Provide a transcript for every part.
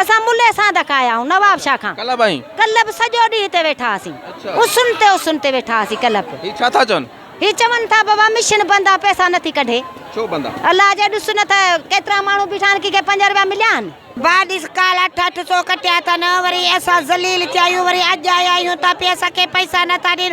اسان ملهي سانڌ کايائون نواب شاهه کان. ڪلهه به ائين. ڪلهه به سڄو ڏينهن هتي ويٺا هئاسين. اڇا. اسن تي اسن تي ويٺا هئاسين ڪلهه به. هي ڇا ٿا چون؟ هي چون ٿا بابا مشن بند آ پئسا نٿي ڪڍي. ڇو بند آ؟ الله جا ڏس نه ته ڪيترا ماڻهو بيٺا آهن ڪنهن کي پنج روپيا مليا آهن. ڀاء ڏس ڪالهه اٺ اٺ سو ڪٽيا اٿن وري اسان ذليل ٿيا آهيون وري اڄ آيا آهيون ته پي اسان کي پئسا نٿا ڏين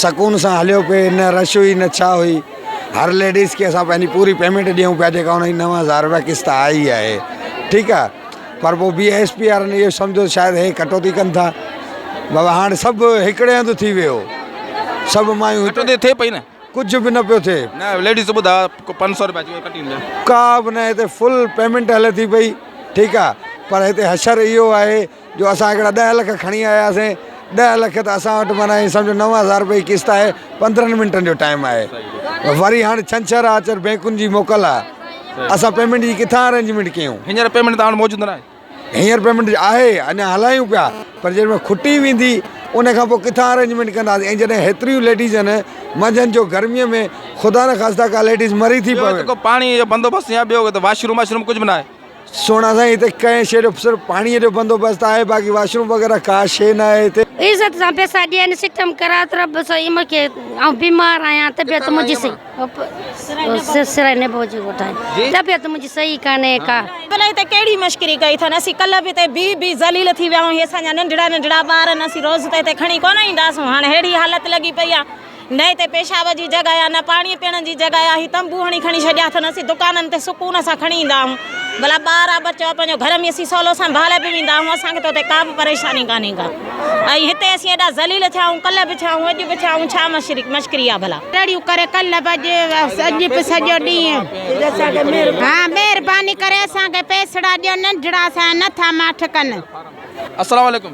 سڪون سان هليو پئي نه رش هئي نه ڇا هئي هر ليڊيز کي اسان پنهنجي پوري پيمنٽ ڏيون پيا جيڪا ان جي نو هزار روپيا قسط آئي ئي آهي ٺيڪ آ پر پو بي ايس پي وارن اهو سمجهيو شايد هي ڪٽوتي ڪن ٿا بابا هاڻ سڀ هڪڙي هنڌ ٿي ويو سڀ مايون ڪٽوتي ٿئي پئي نه ڪجهه به نه پيو ٿئي نه ليڊيز ٻڌا پنج سؤ روپيا ڪٽي ڏيندا ڪا به نه هتي فل پيمنٽ هلي ٿي پئي ٺيڪ آ پر هتي حشر اهو آهي جو اسان هڪڙا ڏهه لک کڻي آياسين ڏهه لک ته اسان وٽ معنيٰ ائين سمجهو نو هزار روپيه جي قسط آهي پندرهن منٽن جو ٽائيم آهي وري هاڻ ڇنڇر آ چر بينڪن جي موڪل آ اسان پيمنٽ جي ڪٿان ارينجمينٽ ڪيون هينئر پيمنٽ توهان وٽ موجود ناهي هينئر پيمنٽ آهي اڃا هلايون پيا پر جيڏي مهل کٽي ويندي ان کان پوء ڪٿان ارينجمينٽ ڪنداسين ۽ جڏهن هيتريون ليڊيزن منجهند جو گرميء ۾ خدا نه خاصدا ڪا ليڊيز مري ٿي پوي ٻيو جيڪو پاڻي جو بندوبست يا ٻيو واش روم واشروم ڪجهه به ناهي سهڻا سائين هتي ڪنهن شيء جو صرف پاڻيء جو بندوبست آهي باقي واش روم وغيره ڪا شيء نه آهي هتي. عزت سان پيسا ڏين سٽم ڪرائي ته رب سائين مون کي آئون بيمار آهيان طبيعت منهنجي صحيح سرائي نبو جي ڳوٺ آهي طبيعت منهنجي صحيح ڪانهي ڪا. بلا هتي ڪهڙي مشڪري ڪئي اٿن اسين ڪلهه به هتي بيهي بيهي ذليل ٿي ويا آهيون هي اسان جا ننڍڙا ننڍڙا ٻار آهن اسين روز ته هتي کڻي ڪونه اينداسون هاڻي ههڙي حالت لڳي پئي آهي نه هتي پيشاب جي جڳهه آهي نه پاڻي پيئڻ جي جڳهه آهي هي تنبو هڻي کڻي ڇڏيا اٿن اسين دڪانن تي سڪون سان کڻي ايندا آهيون ڀلا ٻار آ ٻچو آ پنهنجو گهر ۾ اسين سولو سنڀالي به ويندا آهيون اسان کي ته اتي ڪا به پريشاني ڪانهي ڪا ۽ هتي اسين ايڏا ذليل ٿيا آهيون ڪلهه به ٿيا آهيون اڄ به ٿيا آهيون ڇا مشري مشڪري آ ڀلا تڙيون ڪري ڪلهه به اڄ اڄ به سڄو ڏينهن ها مهرباني ڪري اسان کي پيسڙا ڏيو ننڍڙا اسان جا نه ٿا ماٺ ڪن. السلام عليڪم.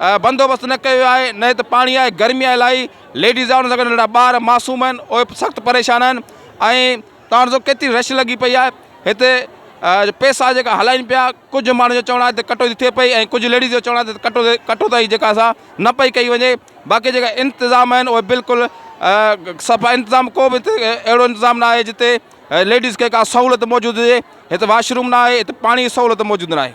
بندوبست نه ڪيو ويو آهي نه هت پاڻي آهي گرمي آهي الاهي ليڊيز آهي ان سان گڏ ننڍڙا ٻار معصوم آهن اهي به سخت پريشان آهن ۽ تان ڏسو ڪيتري رش لڳي پئي آهي هتي پيسا جيڪا هلائين پيا ڪجهه ماڻهو جو چوڻ آهي ته ڪٽوتي ٿئي پئي ۽ ڪجهه ليڊيز جو چوڻ آهي ته ڪٽو ڪٽوتائي جيڪا سا نه پئي ڪئي وڃي باقي جيڪا انتظام آهن اهي بلڪل صفا انتظام ڪو به هتي اهڙو انتظام نه آهي جتي ليڊيز کي ڪا سهولت موجود هجي هت واش روم نه آهي هت پاڻي جي سهولت موجود نه آهي.